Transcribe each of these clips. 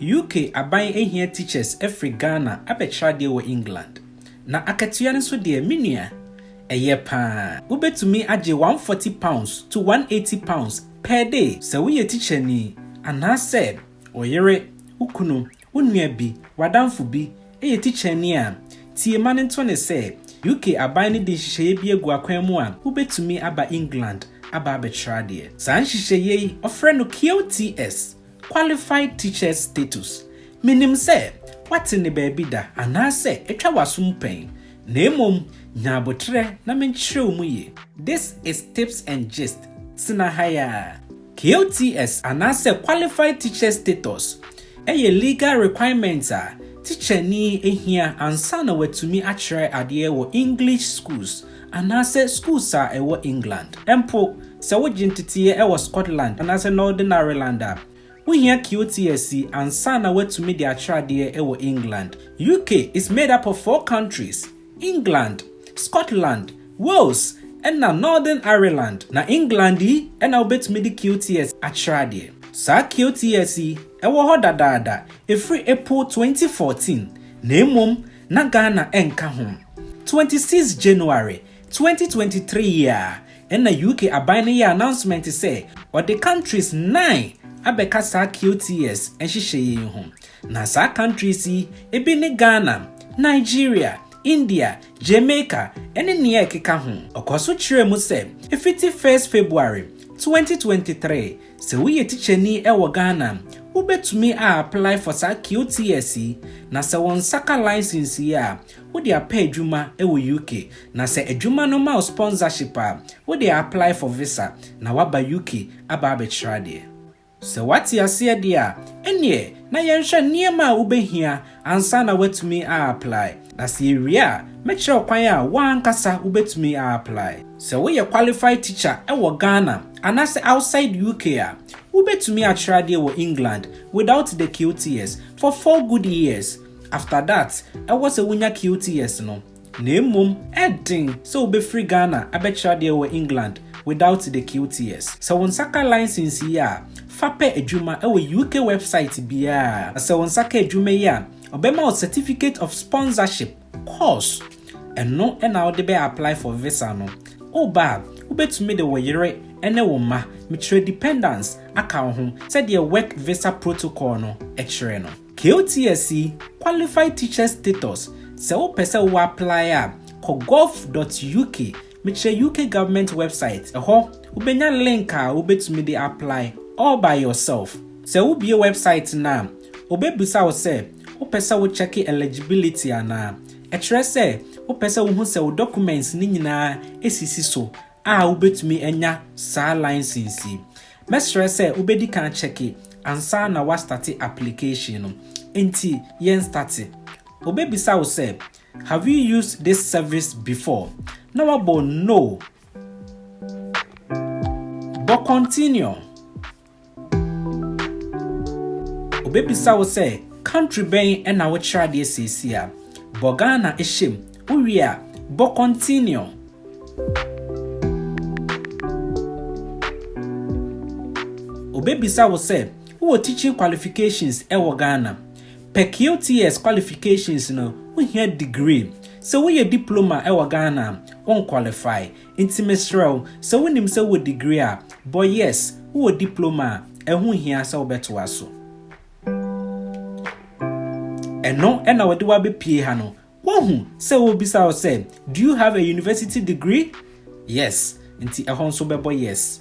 UK aban hia teachers firi Ghana abɛkyerɛ adeɛ wɔ England. Na akatua no nso deɛ, me nua, ɛyɛ paa. Wobɛtumi agye one hundred forty pounds to one hundred and eighty pounds per day sɛ woyɛ tikyani, anaasɛ wo yere, wo kunu, wo nua bi, w'adamfo bi yɛ tikyani a, tie ma no nto no sɛ, UK aban no de nhyehyɛeɛ bi agu akwan mu a wobɛtumi aba England aba abɛkyerɛ adeɛ. Saa nhyehyɛeɛ yi, wɔfrɛ no QTS. Qualified Teacher's Status, Minnim sɛ woate ne baabi da anaasɛ atwa w'asom pɛn, na mmom nya aboterɛ na menkyerɛw mu ye. This is Tips and Gist, Tena ha ara. QTS anaasɛ Qualified Teacher's Status yɛ legal requirement a tikyani hia ansa na watumi akyerɛ adeɛ wɔ English schools anaasɛ skuls a ɛwɔ England. Mpo sɛ wogye nteteeɛ wɔ Scotland anaasɛ Northern Ireland a, wohia QTSC ansa na woatumi de akyerɛ adeɛ wɔ England. UK is made up of four countries, England, Scotland, Wales ɛna Northern Ireland. Na England yi na wobɛtumi de QTSC akyerɛ adeɛ. Saa QTSC yi wɔ hɔ dadaada ɛfiri April 2014, na mmom na Ghana nka ho. Twenty six January, twenty twenty three yi ara na UK aban no yɛɛ announcement sɛ ɔde countries nine abɛka saa QTS nhyehyɛeɛ yi ho. Na saa countries yi bi ne Ghana, Nigeria, India, Jamaica ne nea ɛkeka ho. Ɔkɔɔ so kyerɛɛ mu sɛ ɛfiti first February, twenty twenty three Sɛ woyɛ tikyani wɔ Ghana a, wobɛtumi a apply for saa QTS yi, na sɛ wo nsa ka license yi a, wode apɛ adwuma wɔ UK, na sɛ adwuma no ma wo sponsorship a, wode a apply for visa na woaba UK aba abɛkyerɛ adeɛ. Sɛ woate aseɛ deɛ a, ɛnneɛ na yɛnhwɛ nneɛma a wobɛhia ansa na woatumi a apply. Na sɛ yɛwie a, mɛkyerɛ wo kwan a wo ankasa wobɛtumi a apply. Sɛ woyɛ qualified teacher wɔ Ghana anaasɛ outside UK a, wobɛtumi akyerɛ adeɛ wɔ England without the QTS for four good years. After that, ɛwɔ sɛ wonya QTS no. Na mmom ɛden sɛ wobɛfiri Ghana abɛkyerɛ adeɛ wɔ England without the QTS. Sɛ wo nsa ka license yi a, fa pɛ adwuma wɔ UK website biara. Na sɛ wo nsa ka adwuma yi a, ɔbɛma wo Certificate of Sponsorship course. Ɛno na wode bɛ apply for visa no. Woba a, wobɛtumi de wo yere ne wo mma, mekyerɛ dependants, aka wo ho sɛdeɛ Work Visa Protocol no kyerɛ no. KOTSE, Qualified Teacher Status, Sɛ wopɛ sɛ wo apply a, kɔ gov dot uk, mekyerɛ UK Government website, ɛhɔ wobɛnya link a wobɛtumi de apply all by yourself. Sɛ wobue website no a, wɔbɛbisa wo sɛ wopɛ sɛ wo check eligibility anaa. Ɛkyerɛ sɛ wopɛ sɛ wohu sɛ wo documents no nyinaa sisi so a wobɛtumi anya saa license yi. Mɛsrɛ sɛ wobɛdi kan akyɛke ansa na woastate application no, enti yɛn state. Wɔbɛbisa wo sɛ, Have you used this service before? na woabɔ No. Bɔ Continue. Wɔbɛbisa wo sɛ, Country bɛn na wokyerɛ adeɛ seesei a? Bɔ Ghana hyɛ mu. Wowie a, bɔ Continue. Obebisa wo sɛ wowɔ teaching qualifications wɔ Ghana. Pɛ QTS qualifications no, wohia degree. Sɛ woyɛ diploma wɔ Ghana a, wonqualify. Nti mesrɛ wo, sɛ wonim sɛ wowɔ degree a, bɔ yes, wowɔ diploma a, ɛho nhia sɛ wobɛtoa so. Ɛno na wɔde wo abɛpue ha no, Woahu sɛ wobisa wo sɛ, Do you have a university degree? Yes, nti ɛhɔ nso wobɛbɔ yes.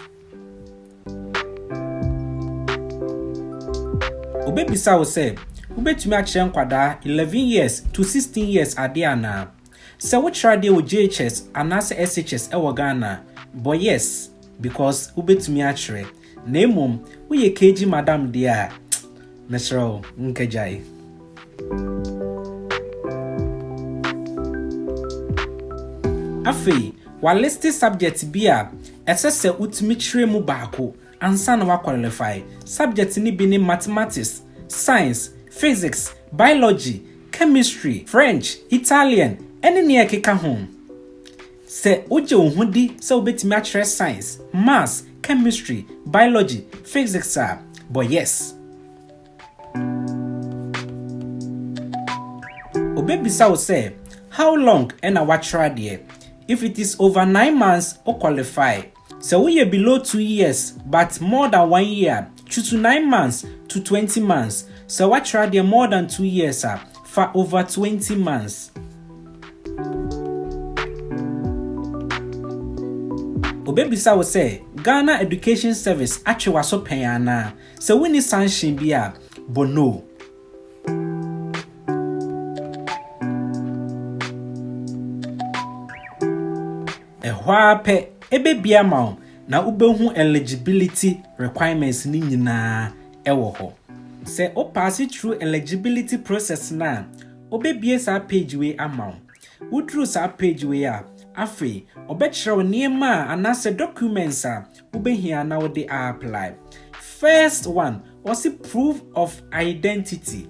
Wobɛbisa wo sɛ, Wobɛtumi akyerɛ nkwadaa 11 years to 16 years adeɛ anaa? Sɛ wokyerɛ adeɛ wɔ JHS anaasɛ SHS wɔ Ghana a, bɔ yes because wobɛtumi akyerɛ. Na mmom woyɛ keegi madam deɛ a, mesrɛ wo nkagyae. Afei, wɔaliste subjects bi a ɛsɛ sɛ wotumi kyerɛ mu baako ansa na woakwɔlelefae. Subjects no bi ne Mathematics, Science, Physics, Biology, Chemistry, French, Italian, ne nea ɛkeka ho. Sɛ wogye wo ho di sɛ wubetumi akyerɛ Science, Maths, Chemistry, Biology, Physics a, bɔ Yes. Obebisa wo sɛ, How long na woakyerɛ adeɛ? If it is over nine months, wo qualify. Sɛ woyɛ below two years but more than one year to to nine months to twenty months, sɛ woatra deɛ more than two years a, fa over twenty months. Wɔbɛbisa wo sɛ Ghana Education Service atwe w'aso pɛn anaa. Sɛ wonni sanction bi a, bɔ No. Ɛhɔ ara pɛ, ebebia ama wo na wobɛhu eligibility requirements no nyinaa wɔ hɔ. Sɛ wo paase through eligibility process no a, wɔbɛbue saa page wei ama wo. Woduru saa page wei a, afei wɔbɛkyerɛ wo nneɛma a anaasɛ documents a wobɛhia na wode a apply. First one, wɔse proof of identity.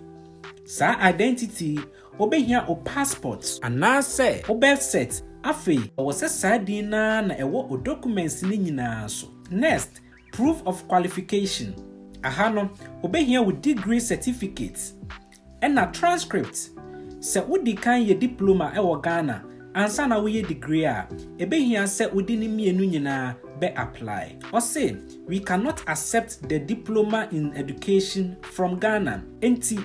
Saa identity yi, Wobehia wo passport. Anaasɛ wo birth cert. Afei, ɛwɔ sɛ saa din no ara na ɛwɔ wo documents no nyinaa so. Next, Proof of qualification. Aha no, wobehia wo degree certificate ɛna transcript. Sɛ wodi kan yɛ diploma wɔ Ghana ansa na woyɛ degree a, ɛbɛhia sɛ wode ne mmienu nyinaa bɛ apply. Ɔse, We cannot accept the diploma in education from Ghana. Enti,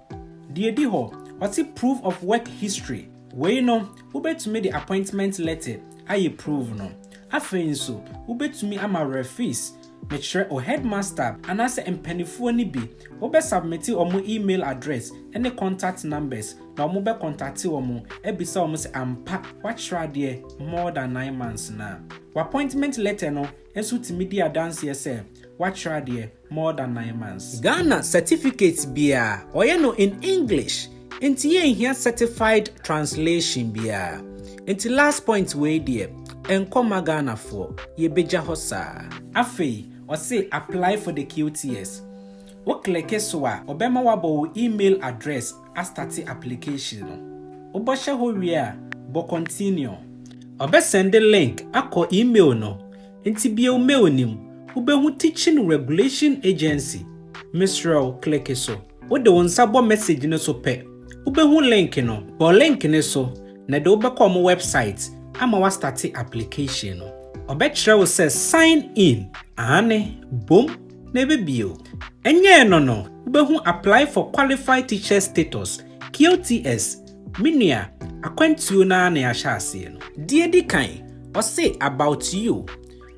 Deɛ ɛdi hɔ, ɔte proof of work history, wei no wobɛtumi de appointment letter ayɛ prove no. Afei nso wobɛtumi ama refees, mekyerɛ o headmaster anaasɛ mpanifoɔ no bi, wobɛ submite wɔn email address ne contact numbers na wɔbɛ contate wɔn abisa wɔn sɛ ampa woakyerɛ adeɛ more than nine months no a. W'appointment letter no nso tumi di adanseɛ sɛ woakyerɛ adeɛ. more than nine months. Ghana certificate biara ɔyɛ no in English nti yɛ nhia certified translation biara nti last point wei deɛ nkɔ ma Ghana foɔ yɛ bɛgya hɔ saa. Afei ɔse apply for the QTS wo kleke so a ɔbɛma wabɔ wo email address astate application no wobɔ hyɛ hɔ wie a bɔ continue. Ɔbɛ sɛnde link akɔ email no Nti bio meonim wobehu teaching regulation agency mesrɛ wo click so wode wo nsa bɔ message no so pɛ wobehu link no bɔ link no so na ɛde wo bɛkɔ ɔmo website ama wa starte application no ɔbɛkyerɛ wo sɛ sign in aane bom na ɛbɛbie o ɛnyɛɛ no no wobehu apply for qualified teachers status QTS Me nua, akwantuo no ara na yɛahyɛ aseɛ no. Deɛ ɛdi kan, ɔse about you,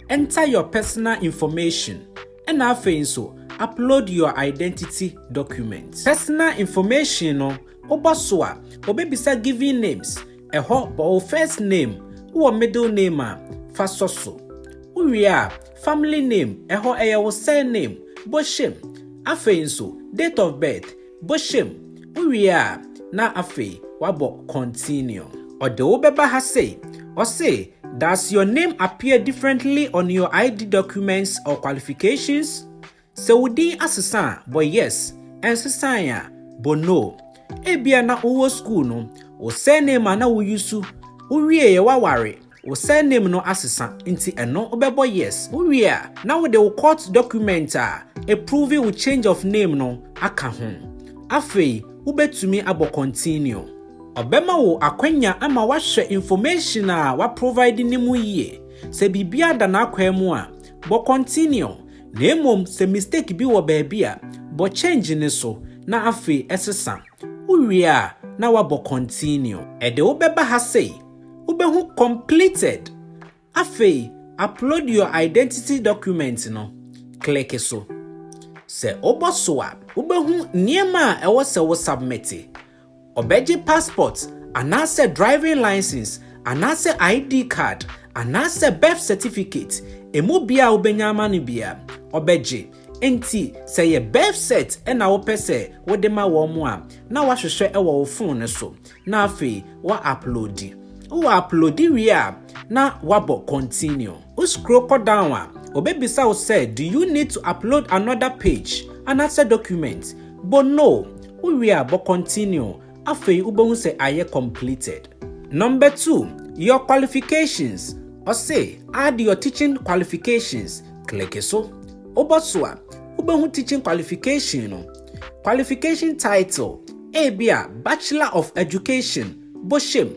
enter your personal information, ɛna afei nso upload your identity document. Personal information no, wobɔ so a, ɔbɛbisa giving names, ɛhɔ bɔ wo first name, wowɔ middle name a, fa sɔ so. Wowie a, family name, ɛhɔ ɛyɛ wo surname, bɔ hyɛm. Afei nso, date of birth, Bɔhyɛ mu. Wowie a, na afei wabɔ continue. Ɔde wo bɛba ha sei. Ɔse, Does your name appear differently on your ID documents or qualifications? Sɛ wo din asesa a, bɔ Yes. Ɛnsesae a, bɔ No. Ebia na wowɔ sukuu no, wo surname a na wo use, wowieeɛ woaware, Wo surname no asesa nti ɛno wobɛbɔ yes. Wowie a na wode wo court document a ɛproove wo change of name no aka ho. Afei wobɛtumi abɔ continue. Ɔbɛma wo akwanya ama woahwɛ information a waprovide no mu yie. Sɛ biribiara da n'akwaa mu a, bɔ continue, na mmom sɛ mistake bi wɔ baabi a, bɔ change no so na afei sesa. Wowie a, na woabɔ Continue. Ɛde wo bɛba ha sei. Wobɛhu Completed. Afei Upload your Identity Document no, kleke so. Sɛ wobɔ so a, wobɛhu nneɛma a ɛwɔ sɛ wo submete. Wɔbɛgye passport anaasɛ driving license anaasɛ ID card anaasɛ birth certificate, ɛmu biara a wobɛnya ama no biara, wɔbɛgye. Enti sɛ ɛyɛ birth cert na wopɛ sɛ wode ma wɔn a, na woahwehwɛ wɔ wo fon no so, na afei woauploadi. Woauploadi wie a, na woabɔ Continue. Wo scroll kɔ down a, obebisa wo sɛ Do you need to upload another page anaasɛ document? Bɔ No. Wowie a, bɔ Continue. Afei wobɛhu sɛ ayɛ completed. Number two, your qualifications. Ɔse add your teaching qualifications. Click so. Wobɔ so a, wobɛhu teaching qualification no. Qualification title, ebi a Bachelor of Education, bohyem.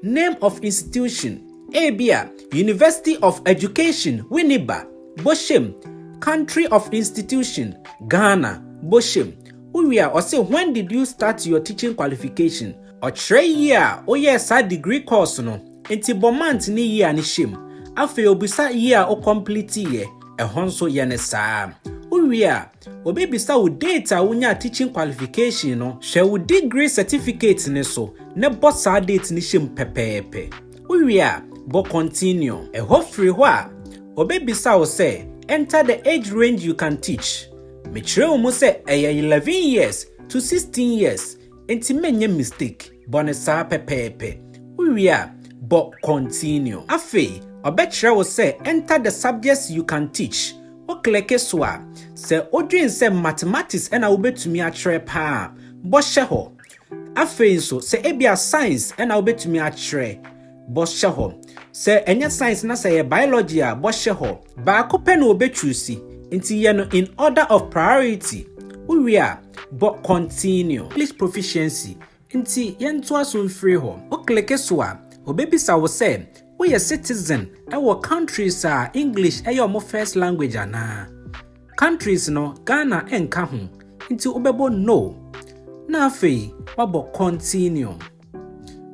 Name of institution, ebi a University of Education, Winneba, bohyem. Country of institution, Ghana, bohyem. Owie a, ɔse, When did you start your teaching qualification? Ɔkyerɛ year a woyɛɛ saa degree course no, enti bɔ month ne year no hyɛ mu. Afei obisa year a wo complete-iɛ, ɛhɔ nso yɛ no saa ara. Wowie a, obebisa wo date a wonyaa teaching qualification no, hwɛ wo degree certificate no so na bɔ saa date no hyɛ mu pɛpɛɛpɛ. Wowie a, bɔ continue. Ɛhɔ firi hɔ a, obebisa wo sɛ, Enter the age range you can teach. Mekyerɛw mu sɛ ɛyɛ eleven years to sixteen years nti menyɛ mistake, bɔ no saa pɛpɛɛpɛ. Wowie a, bɔ Continue. Afei ɔbɛkyerɛ wo sɛ enter the subjects you can teach. Wokleke so a, sɛ wodwen sɛ Mathematics na wobɛtumi akyerɛ paa a, bɔ Hyɛ hɔ. Afei nso, sɛ ebia science na wobetumi akyerɛ bɔhyɛ hɔ. Sɛ ɛnyɛ science na sɛ ɛyɛ biology a, bɔhyɛ hɔ. Baako pɛ na wobɛchuusi, nti yɛ no in order of priority. Wowie a, bɔ Continue. English Proficiency, nti yɛntoa so mfiri hɔ. Wokleke so a, obebisa wo sɛ woyɛ citizen wɔ countries a English yɛ wɔn first language anaa. Countries no, Ghana nka ho, nti wobɛbɔ No, na afei woabɔ Continue.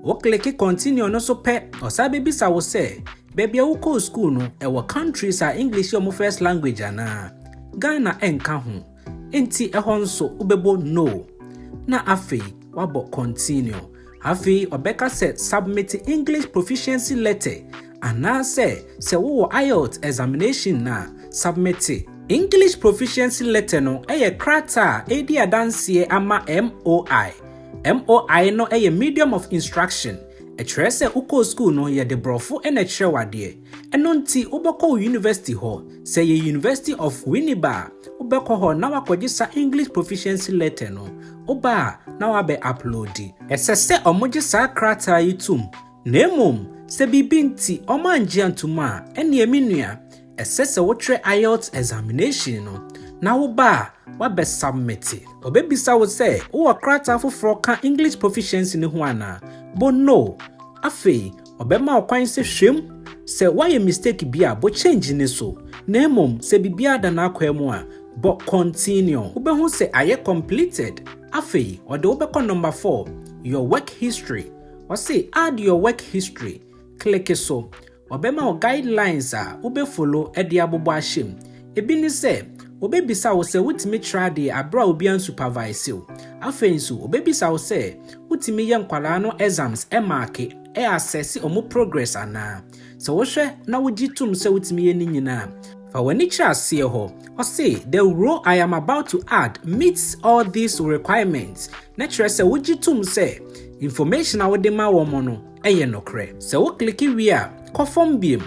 Wo kleke Continue no so pɛ, ɔsan bɛbisa wo sɛ, baabi a wokɔɔ school no, ɛwɔ countries a English yɛ wɔn first language anaa? Ghana nka ho, nti ɛhɔ nso wobɛbɔ No, na afei woabɔ Continue. Afei ɔbɛka sɛ submit English proficiency letter anaasɛ sɛ wowɔ IELTS examination no a, submit. English proficiency letter no yɛ krataa a ɛredi adanseɛ ama MOI. MOI no yɛ medium of instruction, ɛkyerɛ sɛ wokɔɔ sukuu no yɛde borɔfo na ɛkyerɛ wo adeɛ. Ɛno nti wobɛkɔ wo university hɔ. Sɛ ɛyɛ University of Winneba a, wobɛkɔ hɔ na woakɔgye saa English Proficiency Letter no. Woba a, na woabɛ uploadi. Ɛsɛ sɛ wɔgye saa krataa yi tom, na mmom sɛ biribi nti wɔangye antom a, ɛnneɛ me nua, ɛsɛ sɛ wokyerɛ IELTS examination no, na woba a, woabɛsubmite. Wɔbɛbisa wo sɛ wowɔ krataa foforɔ ka English Proficiency no ho anaa? Bo no. Afei Ɔbɛma wo kwan sɛ hwɛm sɛ woayɛ mistake bi a bɔ change ne so na mmom sɛ biribiara da n'akwaa mu a bɔ continue. Wobɛhu sɛ ayɛ completed. Afei ɔde wo bɛkɔ number four, your work history. Ɔse add your work history. Click so. Ɔbɛma wo guidelines a wobɛ follow de abobɔ ahyɛ mu. Ebi ne sɛ, wɔbɛbisa wo sɛ wotumi kyerɛ adeɛ berɛ a obi ansupavaese wo. Afei nso, wɔbɛbisa wo sɛ wotumi yɛ nkwadaa no exams maake, assesse wɔn progress anaa. Sɛ wohwɛ na wogye tom sɛ wotumi yɛ ne nyinaa a, fa w'ani kyerɛ aseɛ hɔ. Ɔse, The role I am about to add meets all these requirements, na kyerɛ sɛ wogye tom sɛ information a wode ma wɔn no yɛ nokorɛ. Sɛ wo click wie a, kɔ fam biom.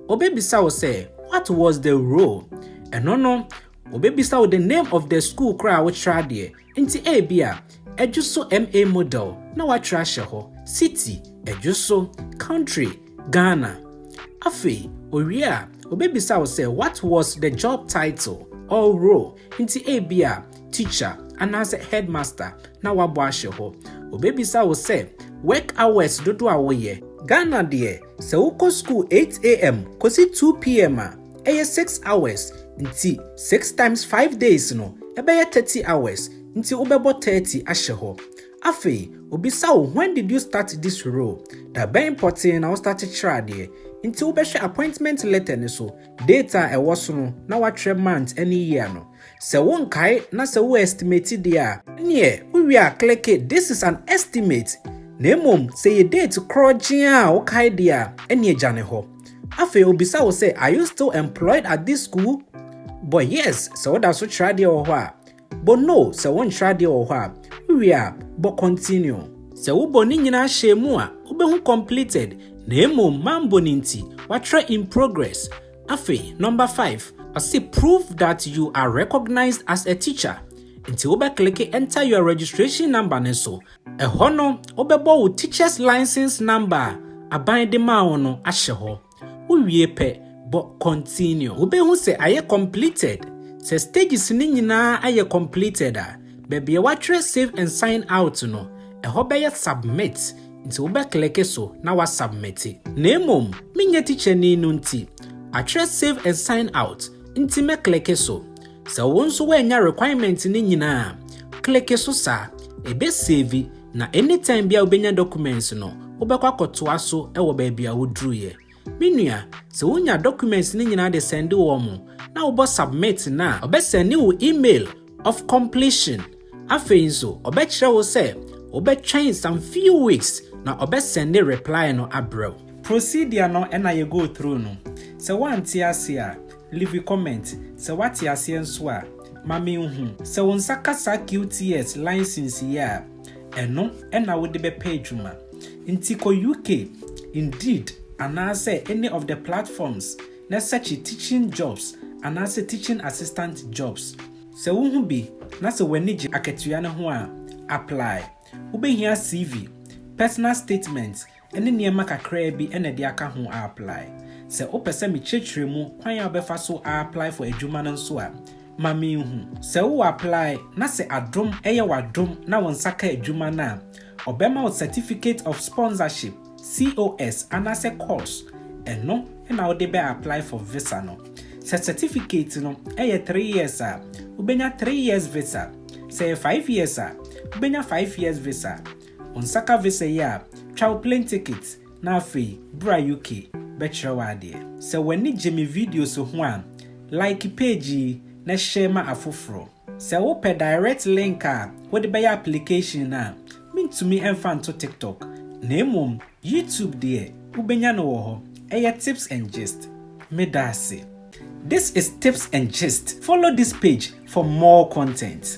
Obebisa wo sɛ, What was the role? Ɛno no, obebisa wo the name of the school koro a wokyerɛ adeɛ. Nti ebia, Adwo so MA Model na woatwerɛ ahyɛ hɔ. City, Adwo so. Country, Ghana. Afei, owie a, obebisa wo sɛ, What was the job title or role? Nti ebia, Teacher anaasɛ Headmaster na woabɔ ahyɛ hɔ. Obebisa wo sɛ, Work hours dodoɔ a woyɛ. Ghana deɛ, Sɛ wokɔ sukuu 8am kosi 2pm a, ɛyɛ six hours, nti six times five days no, ɛbɛyɛ thirty hours, nti wobɛbɔ thirty ahyɛ hɔ. Afei, obisa wo when did you start this role? Da bɛn pɔtee na wo start kyerɛ adeɛ? Nti wobɛhwɛ appointment letter no so, date a ɛwɔ so no na woatwerɛ month ne year no. Sɛ wo nkae na sɛ wo estimate deɛ a, ɛneɛ wo wie a kleke this is an estimate na mmom sɛ ɛyɛ date korɔ gyea a wo kae deɛ a, ɛneɛ gya ne hɔ. Afei obisa wo sɛ are you still employed at this school? Bɔ yes sɛ wo da so kyerɛ adeɛ wɔ hɔ a, bɔ no sɛ wo nkyerɛ adeɛ wɔ hɔ a, wo wie a, bɔ continue. Sɛ wo bɔ ne nyinaa hyɛɛ mu a, wo bɛhu completed na mmom ma mbɔ no nti, watwerɛ in progress. Afei, number five, ɔse prove that you are recognised as a teacher, nti wobɛkleke enter your registration number no so, ɛhɔ no wobɛbɔ wo teachers license number a aban de maa wo no ahyɛ hɔ, wowie pɛ, bɔ continue. Wobɛhu sɛ ayɛ completed, sɛ stages no nyinaa ayɛ completed a, baabi a wɔatwerɛ save and sign out no, ɛhɔ bɛyɛ submit, nti wobɛkleke so na woasubmete. Na mmom menyɛ tikyani no nti, atwerɛ save and sign out nti mɛkleke so. Sɛ wo nso woannya requirement no nyinaa a, kleke so saa, ɛbɛsevi na anytime biara wobɛnya documents no, wobɛkɔ akɔtoa so wɔ baabi a woduruiɛ. Me nua, sɛ wo nya documents no nyinaa de sɛnde wɔn mo, na wo bɔ submit no a, ɔbɛ sɛnde wo email of completion. Afei nso, ɔbɛ kyerɛ wo sɛ wo bɛ twɛn some few weeks na ɔbɛ sɛnde reply no abrɛ wo. Procedure no na yɛ go through no. Sɛ wo ante aseɛ a, leave comment, sɛ w'ate aseɛ nso a, ma me nhu. Sɛ wo nsa ka saa QTS license yi a, ɛno na wode bɛpɛ adwuma. Nti kɔ UK, Indeed anaasɛ any of the platforms na sɛkye teaching jobs anaasɛ teaching assistant jobs. Sɛ wohu bi na sɛ w'ani gye akatua no ho a, apply. Wobɛhia CV, personal statement ne nneɛma kakraa bi na ɛde aka ho aaplae. Sɛ wopɛ sɛ mekyerɛkyerɛ mu kwan a wobɛfa so aaplae for adwuma no nso a, ma menhu. Sɛ wo aaplae na sɛ adom yɛ w'adom na wo nsa ka adwuma no a, wɔbɛma wo Certificate of Sponsorship, COS, anaasɛ cos, ɛno na wode bɛ aaplae for visa no. Sɛ certificate no yɛ three years a, wobɛnya three years visa. Sɛ ɛyɛ five years a, wobɛnya five years visa. Onsaka visa yi a, twa wo plane ticket na afei bra UK bɛkyerɛ wo adeɛ. Sɛ w'ani gye me videos ho a, like page yi na share ma afoforɔ. Sɛ wopɛ direct link a wode bɛyɛ application no a, mentumi mfa nto TikTok na mmom YouTube deɛ wobɛnya no wɔ hɔ ɛyɛ tips and gist medaase this is tips and gist follow this page for more content.